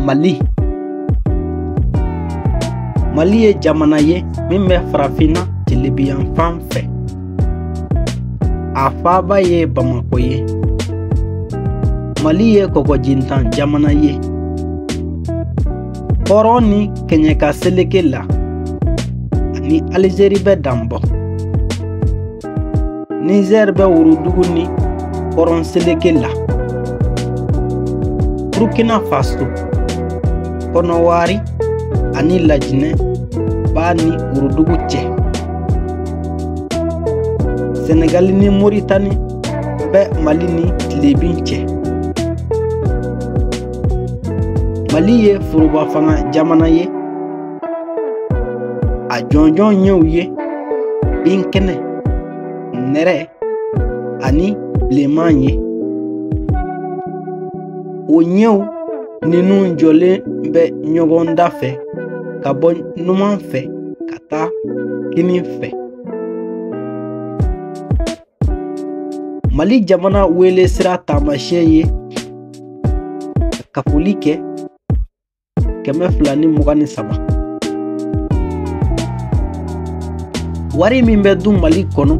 mali mali ye jamana ye min bɛ farafinna tilebinyanfan fɛ a faaba ye bamako ye mali ye kɔgɔjintan jamana ye kɔrɔn ni kɛɲɛka seleke la a ni alizeri bɛ danbɔ nizɛr bɛ worodugu ni kɔrɔn seleke la burkina faso kɔnɔwari ani lajinɛ b'a ni worodugu cɛ senegali ni moritani bɛ mali ni tilebin cɛ mali ye forobafanga jamana ye a jɔnjɔn ɲɛw ye binkɛnɛ nɛrɛ ani bilenman ye o ɲɛw ninnu jɔlen bɛ ɲɔgɔn dafɛ ka bɔ numan fɛ ka taa kinin fɛ mali jamana wele sira taamasiyɛn ye kafoli kɛ kɛmɛ fila ni mugan ni saba wari min bɛ dun mali kɔnɔ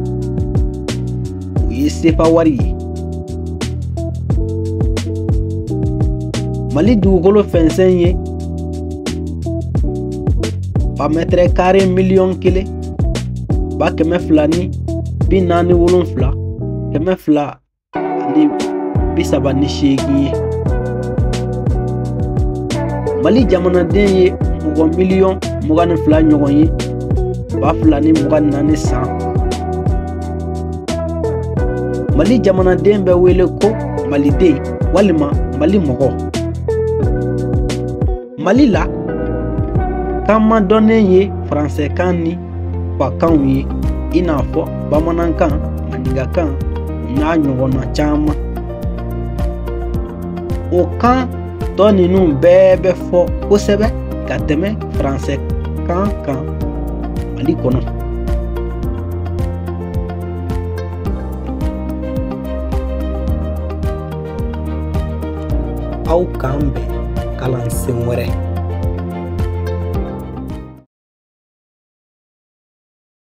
o ye sefa wari ye mali dugukolo fɛnsɛn ye bamɛtɛrɛ kare miliyɔn kelen ba kɛmɛ fila ni bi naani wolonfila kɛmɛ fila ani bi saba ni seegin ye mali jamanaden ye mɔgɔ miliyɔn mugan ni fila ɲɔgɔn ye ba fila ni mugan ni naani san mali jamanaden bɛ wele ko maliden walima mali mɔgɔ mali la kan madɔnnen ye faransɛkan ni fakanw ye i n'a fɔ bamanankan maninkakan n'a ɲɔgɔnna caman o kan tɔ ninnu bɛɛ bɛ fɔ kosɛbɛ ka tɛmɛ faransɛkan kan mali kɔnɔ aw k'an bɛn kalansen wɛrɛ